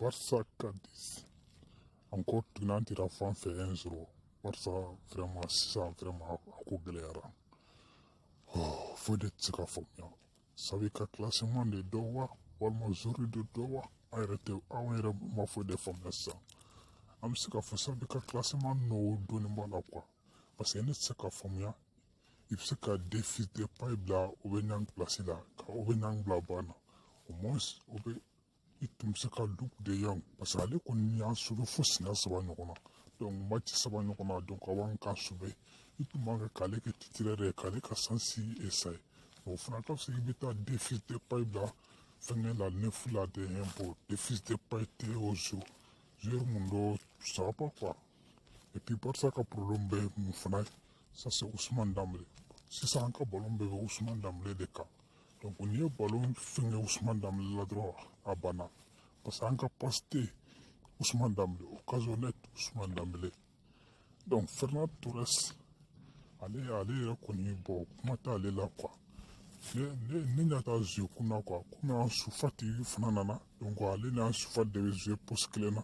barisa cadix encore tuguni an tira fan fɛ un zéro barisa vraiment sisan vraiment a ko gɛlɛyara oh, foyi de tɛ se ka faamuya xavi ka classement de don wa walima joueur de don wa an yɛrɛ tɛ anw yɛrɛ ma foyi de faamuya sisan an bɛ se ka fɔ xavi ka classement nɔ dɔɔnin b'a la quoi parce que ne tɛ se ka faamuya i bɛ se ka memphis depay bila aubameyang place la ka aubameyang bila banc na au moins o bɛ i tun bɛ se ka luuk de jong parce que ale kɔni y'an sauver fo siɲɛ saba ɲɔgɔn na donc mati saba ɲɔgɔn na donc a b'an kan sauver i tun man kan k'ale kɛ titulaire de ye k'ale ka sansi esaye o fana ka fisa i bɛ taa memphis depay bila fɛngɛ la neuf la de yɛn bɔ memphis depay tɛ o zo joueur mun don ça va pas quoi et puis barisa ka problème bɛ mun fana ye ça c'est ousmane danbele sisan an ka balon bɛɛ bɛ ousmane danbele de kan donc n'i ye balon fɛngɛ ousmane danbele la dɔrɔn a banna parce que an ka passe tɛ ousmane danbele occasion nette ousmane danbele donc ferran torres ale ale yɛrɛ kɔni bon kuma t'ale la quoi ne ne ne ɲɛ t'a zuwe kun na quoi komi ansu fati fana nana donc ale n'ansu fati de bɛ zuwe poste kelen na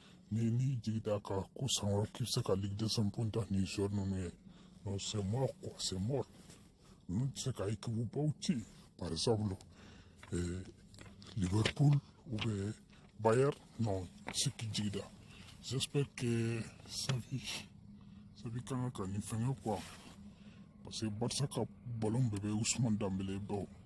ni n'i jigi d'a kan ko san wɛrɛ k'i bɛ se ka ligue des champions ta ni joueur ninnu ye non c'est mort quoi c'est mort ninnu tɛ se ka équipe baw ci par exemple eh, Liverpool ou bien Bayern non se k'i jigi da j'espère que Xavi Xavi ka kan ka nin fɛngɛ quoi parce que Barça ka ballon bɛɛ bɛ Ousmane Dembélé bolo